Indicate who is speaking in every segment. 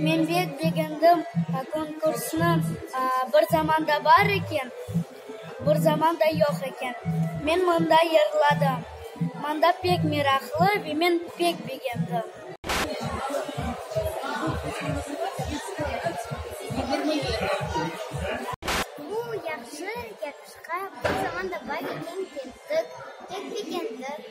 Speaker 1: Men pek begendim konkursnı. Bir zamanda bar eken, bir zamanda yoq eken. Men mında yırladım. Mında pek meraqlı ve men pek begendim. Bu yahşı yarışqa bir zamanda bar eken, kettik. Pek begendik.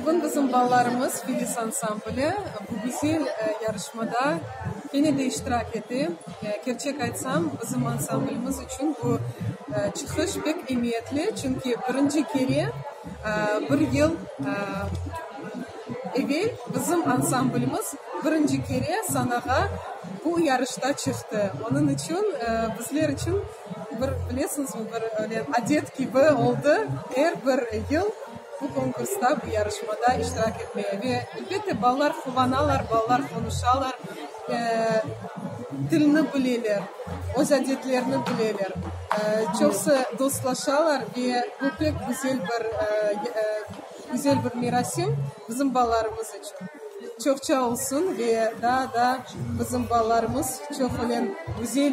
Speaker 1: Bugün bizim balalarımız Filiz ansambli bu güzel yarışmada kene de iştirak ete. Kerçek aytsam, bizim ansamblimiz içün bu çıqış pek emiyetli, çünki birinci kere bir yıl evel bizim ansamblimiz birinci kere sanağa bu yarışta çıqtı. Onıñ içün, bizler içün Bir, bilesiñizmi, bir öyle adet kibi oldı, er bir yıl bu konkursta, bu yarışmada iştirak etmeye. Ve, elbette, balalar quvanalar, balalar qonuşalar, eee, tilni bileler, öz adetlerini bileler. Eee, çoqusı dostlaşalar ve bu pek güzel bir, eee, güzel bir merasim bizim balalarımız içün. Çoqça olsun ve daa-daa bizim balalarımız çoq öyle güzel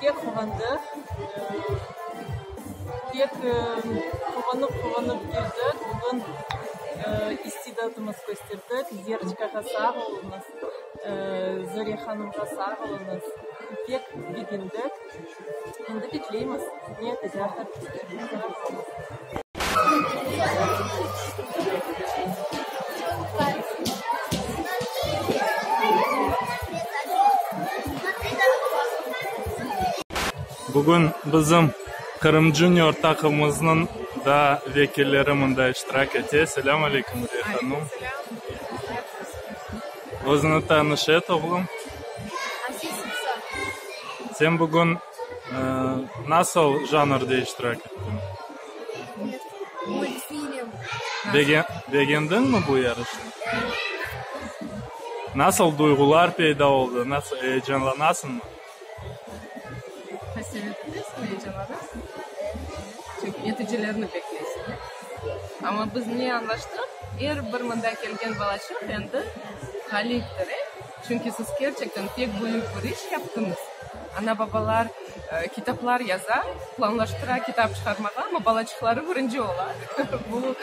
Speaker 1: Pek quvandıq, pek quvanıp quvanıp keldik, bugün istidadımız kösterdik, Zeriçkağa sağ oluñız, Zoriye hanımğa sağ oluñız, pek begendik, endi bekleymiz. Bugün bizim Qırım Junior taqımımıznıñ da vekilleri mında iştirak ete. Selâm aleyküm, Nuriye hanım. Özüni tanış et, oğlum. Sen bugün. Nasıl janrda iştirak ettiñ? Multfilm. Bege- begendiñmi bu yarışnı? Nasıl duyğular peyda oldı, nasıl eyecanlanasıñmı? Qasevet etesıñ, eyecanlanasıñ. Çünki neticilerni bekleysiñ, ya. Amma biz ne añlaştıq, er bir mında kelgen balaçıq endi ğaliptir, e? Çünki siz kerçekten pek büyük bir iş yaptıñız. Ana-babalar kitaplar yaza, planlaştıra kitap çıqarmağa, amma balaçıqları birinci ola. Bu,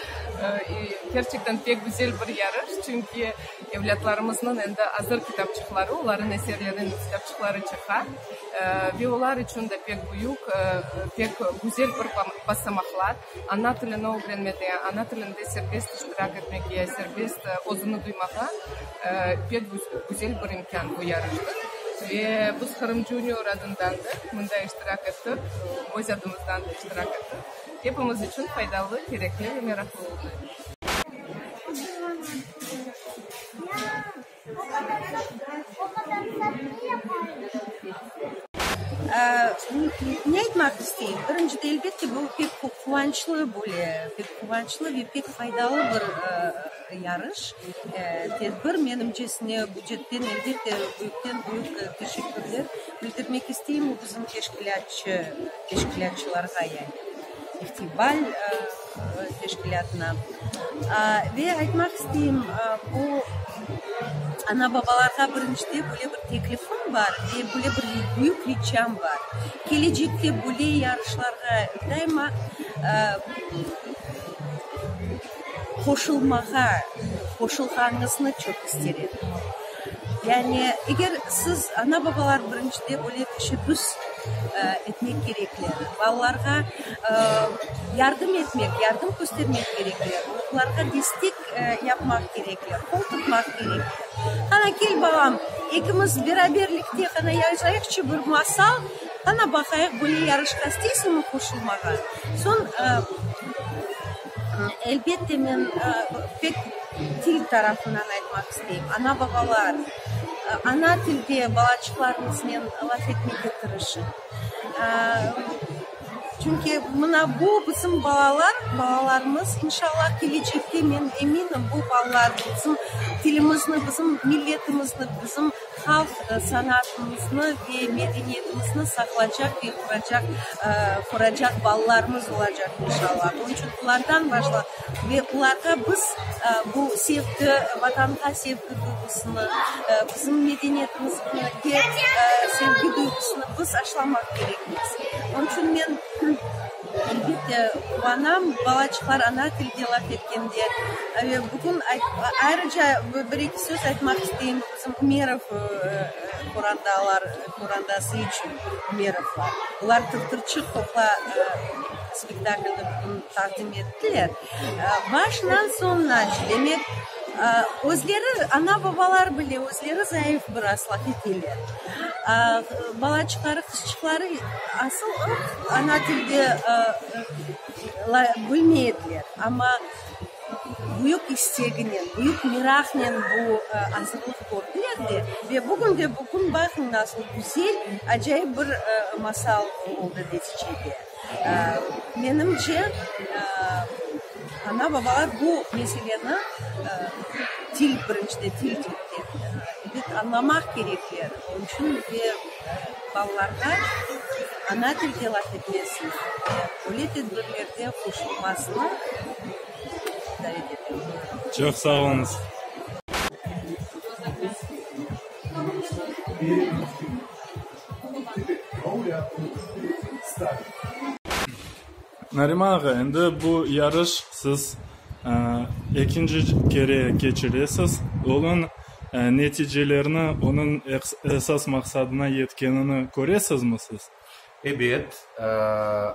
Speaker 1: kerçekten pek güzel bir yarış, çünki evlâtlarımıznıñ endi azır kitapçıqları, olarnıñ eserleriniñ kitapçıqları çıqa. Ve olar içün de pek büyük, pek güzel bir basamaqlar. Ana tilini ögrenmege, ana tilinde serbest iştirak etmege, serbest özüni duymağa pek güzel bir imkân bu yarıştır. Ve biz Qırım Junior adından da mında iştirak ettik, öz adımızdan da iştirak ettik. Hepimiz içün faydalı, kerekli ve meraqlı oldı. Ne aytmaq isteyim, birincide, elbette, bu pek quvançlı böyle, pek quvançlı ve pek faydalı bir yarış, tedbir. Menimcesine, bücetten, elbette, büyükten büyük teşekkürler bildirmek isteyim o bizim teşkilâtçı, teşkilâtçılarğa yani. festival teşkilâtına. Ve aytmaq isteyim, bu ana-babalarğa birinci böyle bir teklifim bar ve böyle bir büyük riçam bar, kelecekte böyle yarışlarğa daima Qoşulmağa, qoşulğanıñıznı çoq ister edim. Yani, eger siz ana-babalar birincide böyle teşebbüs, e, etmek kerekler, balalarğa, e, yardım etmek, yardım köstermek kerekler, onlarğa destek, e, yapmaq kerekler, qol tutmaq kerekler. Qana, kel, balam, ekimiz beraberlikte qana yazayıqçı bir masal, qana, baqayıq, böyle yarışqa isteysiñmi qoşulmağa? Soñ, e, Elbette, men pek til tarafından aytmaq isteyim. Ana-babalar, ana tilde balaçıqlarıñıznen laf etmege tırışıñ. Çünki mına bu, bizim balalar, balalarımız. İnşallah, kelecekte, men eminim, bu balalar bizim tilimizni, bizim milletimizni, bizim Halq sanatımıznı ve medeniyetimizni saqlacaq ve quracaq, quracaq balalarımız olacaq inşalla. Bunıñ içün bulardan başla, ve bularğa biz bu sevgi, Vatanğa sevgi duyğusını, bizim medeniyetimizge sevgi duyğusını biz aşılamaq kerekmiz. Onıñ içün men, elbette, quvanam, balaçıqlar ana tilde laf etkende. Ve bugün ayt, ayrıca bir-eki söz aytmaq isteyim. Bizim Ümerov qorandalar, qorandası içün Ümerovlar. Olar Tırtırçıq qoqa spektaklini bugün taqdim ettiler. Başından soñunace, demek, özleri, ana-babalar bile özleri zayıf bir aslaq eteler. Balaçıqları, qızçıqları asıl ıq ana tilde bilmey ediler. Amma, büyük isteginen, büyük meraqnen bu azırlıq kördiler de, ve bugün de bugün baqıñ nasıl güzel, acayip bir masal oldı neticede. Menimce, ana-babalar bu meseleni til, birinci de til, anlamaq kerekler. Onıñ içün de balalarğa ana tilde laf etmesini ve böyle tedbirlerde qoşulmasını davet etem. Çoq sağ oluñız. Nariman ağa, endi bu yarış siz ekinci kere keçiresiz. Onıñ neticelerini, onıñ esas maqsadına yetkenini köresizmi siz? Ebet,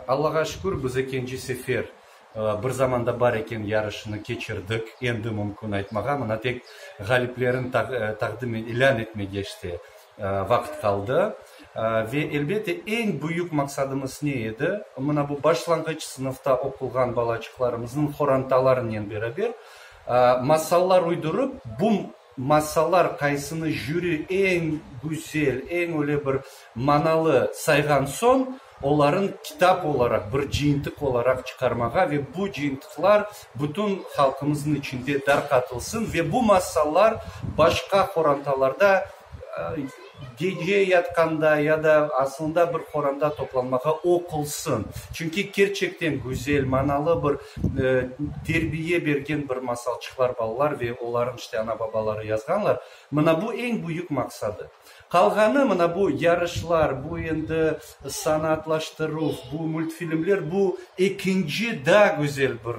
Speaker 1: Allağa şükür, biz ekinci sefer bir zamanda bar eken yarışını keçirdik. Endi mümkün aytmağa, mına tek ğaliplerin taqdim, ilân etme geçti. Vaqıt qaldı. Ve, elbette, eñ büyük maqsadımız ne edi? Mına bu başlanğıç sınıfta oqulğan balaçıqlarımıznıñ qorantalarınen beraber masallar uydurıp, bu masallar qaysını jüri eñ güzel, eñ öyle bir manalı sayğan soñ, olarnı kitap olaraq, bir cıyıntıq olaraq çıqarmağa ve bu cıyıntıqlar bütün halqımıznıñ içinde darqatılsın ve bu masallar başqa qorantalarda gece yatqanda ya da asılında bir qoranta toplanmağa oqulsın. Çünki kerçekten güzel, manalı bir terbiye bergen bir masalçıqlar balalar ve olarnı işte ana-babaları yazğanlar. Mına bu eñ büyük maqsadı. Qalğanı, mına bu yarışlar, bu endi sanaatlaştıruv, bu multfilmler, bu ekinci, daa güzel bir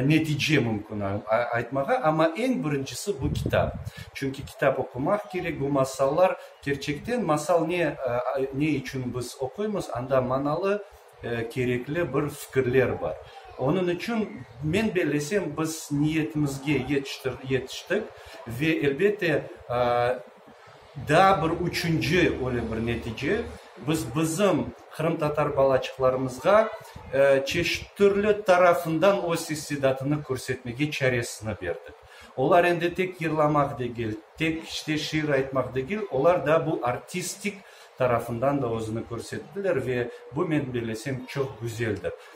Speaker 1: netice mümkün aytmağa, amma eñ birincisi, bu kitap. Çünki kitap oqumaq kerek, bu masallar, kerçekten masal ne, ne içün biz oquymız, anda manalı, kerekli bir fikirler bar. Onıñ içün, men bellesem, biz niyetimizge yetiştir, yetiştik ve, elbette, Daa bir üçünci öyle bir netice, biz bizim qırımtatar balaçıqlarımızğa çeşit türlü tarafından öz istidatını körsetmege çaresini berdik. Olar endi tek yırlamaq degil, tek işte şiir aytmaq degil, olar daa bu artistik tarafından da özüni körsettiler ve bu, men belesem, çoq güzeldir.